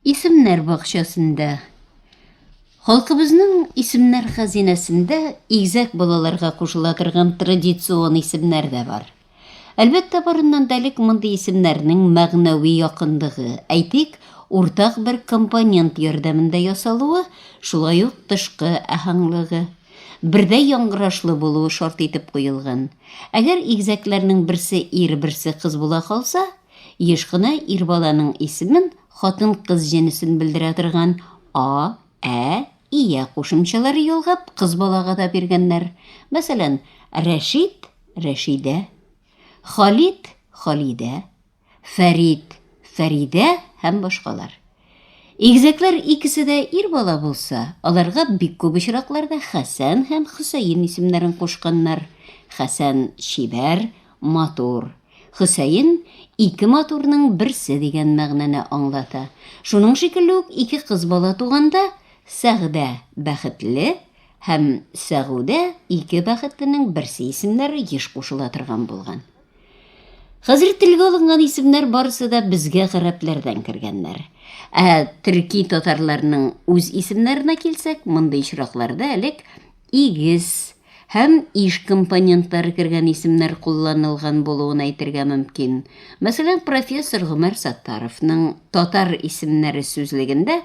Исемнәр бакчасында Халкыбызның исемнәр хәзинәсендә игзәк балаларга кушыла торган традицион исемнәр дә бар. Әлбәттә, барыннан да элек мондый исемнәрнең мәгънәви якынлыгы, әйтик, уртак бер компонент ярдәмендә ясалуы, шулай ук тышкы әһәңлыгы. Бердәй яңгырашлы булуы шарт итеп куелган. Әгәр игезәкләрнең берсе ир, берсе кыз була калса, еш кына ир баланың исемен хатын-кыз җенесен белдерә торган а, ә, ия кушымчалары ялгап кыз балага да биргәннәр. Мәсәлән, Рәшит, Рәшидә, Халит, Халидә, Фәрид, Фәридә һәм башкалар. Игезәкләр икесе дә ир бала булса, аларга бик күп очракларда Хәсән һәм Хөсәен исемнәрен кушканнар. Хәсән, чибәр, матур. Хөсәен, ике матурның берсе дигән мәгънәне аңлата. Шуның шикелле үк ике кыз бала туганда, Сәгъдә, бәхетле, һәм Сәгудә, ике бәхетленең берсе исемнәре еш кушыла торган булган. Хәзер телгә алынган исемнәр барысы да безгә гарәпләрдән кергәннәр. Ә төрки татарларның үз исемнәренә килсәк, мондый очракларда элек игез һәм иш компонентлары кергән исемнәр кулланылган булуын әйтергә мөмкин. Мәсәлән, профессор Гомәр Саттаровның татар исемнәре сүзлегендә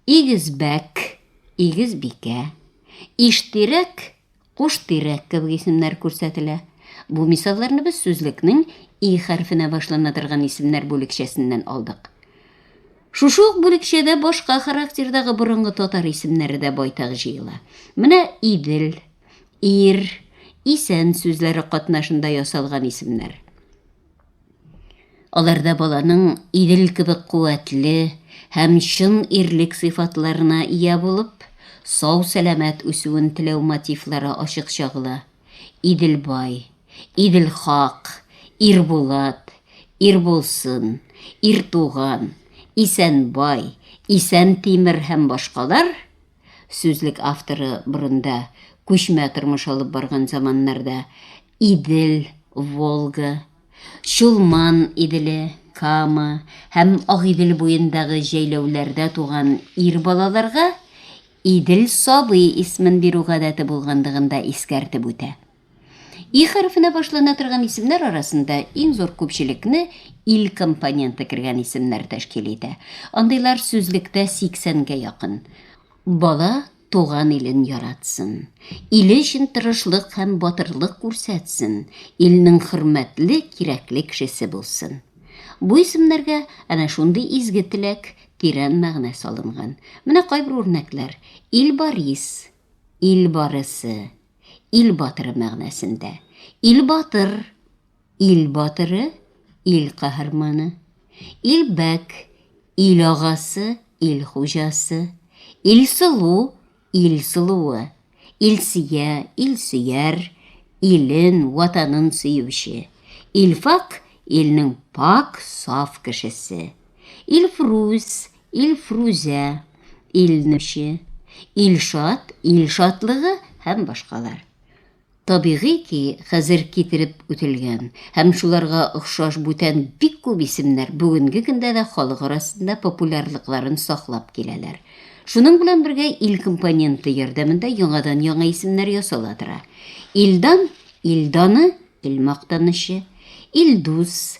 игезбәк, игезбикә, иштирәк, Кош тирәк кебек исемнәр күрсәтелә. Бу мисалларны без сүзлекнең и хәрфенә башлана торган исемнәр бүлекчәсеннән алдык. Шушы ук бүлекчәдә башка характердагы борынгы татар исемнәре дә байтак җыела. Менә Идел, Ир, Исән сүзләре катнашында ясалган исемнәр. Аларда баланың Идел кебек куәтле һәм чын ирлек сыйфатларына ия булып, сау-сәламәт үсүен теләү мотивлары ачык чагыла. Идел бай, Идел хак, Ирбулат, Ирбулсын, Иртуган, Исәнбай, Исәнтимер һәм башкалар Сүзлек авторы борында, күчмә тормыш алып барган заманнарда, Идел, Волга, Чулман Иделе, Кама һәм Агыйдел буендагы җәйләүләрдә туган ир балаларга Идел сабый исмен бирү гадәте булгандыгын да искәртеп үтә. И хәрефенә башлана торган исемнәр арасында иң зур күпчелекне ил компоненты кергән исемнәр тәшкил итә. Андыйлар сүзлектә 80 гә якын. Бала туган илен яратсын, иле өчен тырышлык һәм батырлык күрсәтсен, илнең хөрмәтле, кирәкле кешесе булсын. Бу исемнәргә әнә шундый изге теләк, тирән мәгънә салынган. Менә кайбер үрнәкләр, Илбарис, Ил барысы, Ил батыры мәгънәсендә. Ил батыр, ил батыры, ил каһарманы. Ил бәк, ил агасы, ил хуҗасы. Ил сылу, ил сылуы. Ил сия, ил сөяр, илен, ватанын сөюче. Ил фак, илнең пак, саф кешесе. Ил фрус, Илфрүзә, Илнуче, Илшат, Ил шатлыгы һәм башкалар. Табигый ки, хәзер китереп үтелгән һәм шуларга охшаш бүтән бик күп исемнәр бүгенге көндә дә халык арасында популярлыкларын саклап киләләр. Шуның белән бергә ил компоненты ярдәмендә яңадан-яңа исемнәр ясала тора. Илдан, Ил даны, Ил мактанычы, Илдус,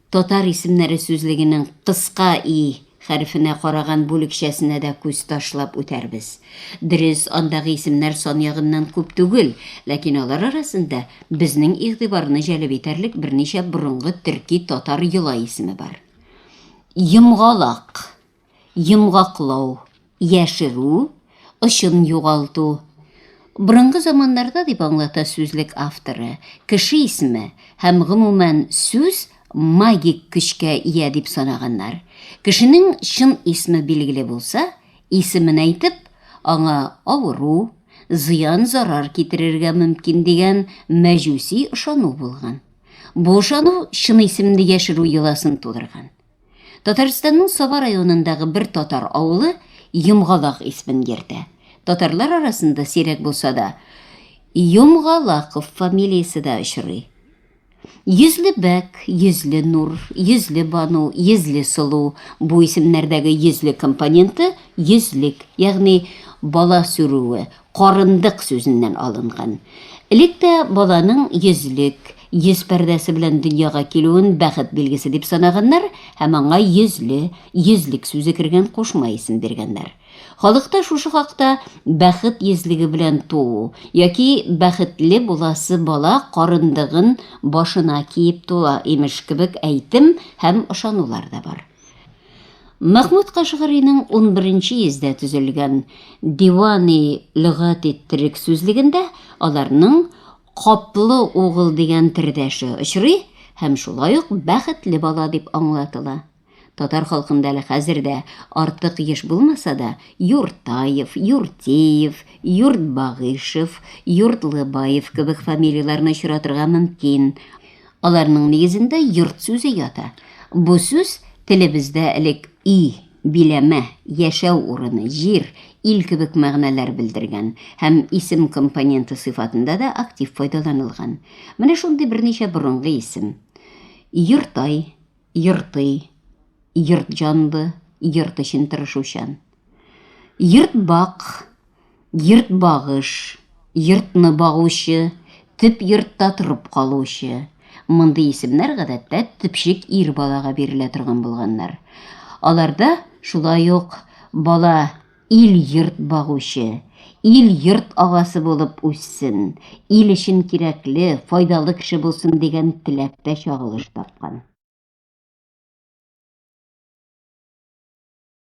Татар исемнәре сүзлегенең кыска и хәрефенә караган бүлекчәсенә дә күз ташлап үтәрбез. Дөрес, андагы исемнәр сан ягыннан күп түгел, ләкин алар арасында безнең игътибарны җәлеп итәрлек берничә борынгы төрки-татар йола исеме бар. Йомгалак. йомгаклау, яшерү, очын югалту. Борынгы заманнарда дип аңлата сүзлек авторы, кеше исеме һәм гомумән сүз магик көчкә ия дип санаганнар. Кешенең чын исме билгеле булса, исемен әйтеп, аңа авыру, зыян-зарар китерергә мөмкин дигән мәҗүси ышану булган. Бу ышану чын исемне яшерү йоласын тудырган. Татарстанның Саба районындагы бер татар авылы Йомгалак исмен йөртә. Татарлар арасында сирәк булса да, Йомгалаков фамилиясе дә очрый. Йөзле бәк, йөзле нур, йөзле бану, йөзле сылу бу исемнәрдәге йөзле компоненты йөзлек, ягъни бала сүрүе, карындык сүзеннән алынган. Элек тә баланың йөзлек, Йөз пәрдәсе белән дөньяга килүен бәхет билгесе дип санаганнар һәм аңа йөзле, йөзлек сүзе кергән кушма исем биргәннәр. Халыкта шушы хакта бәхет йөзлеге белән туу яки бәхетле буласы бала карындыгын башына киеп туа, имеш, кебек әйтем һәм ышанулар да бар. Мәхмүд Кашгаринең 11-нче йөздә төзелгән Дивани лөгати-төрек сүзлегендә аларның Котлы угыл дигән тердәше очрый һәм шулай ук бәхетле бала дип аңлатыла. Татар халкында әле хәзер дә, артык еш булмаса да, Юртаев, Юртеев, Юртбагыйшев, Юртлыбаев кебек фамилияләрне очратырга мөмкин. Аларның нигезендә йорт сүзе ята. Бу сүз телебездә элек өй биләмә, яшәү урыны, җир, ил кебек мәгънәләр белдергән һәм исем компоненты сыйфатында да актив файдаланылган. Менә шундый берничә борынгы исем. Йортай, Йортый, Йортҗанлы, Йорт өчен тырышучан. Йортбак, Йортбагыш, йортны багучы, төп йортта торып калучы. Мондый исемнәр гадәттә төпчек ир балага бирелә торган булганнар. Аларда шулай ук бала ил-йорт багучы, ил-йорт агасы булып үссен, ил өчен кирәкле, файдалы кеше булсын дигән теләк тә чагылыш тапкан.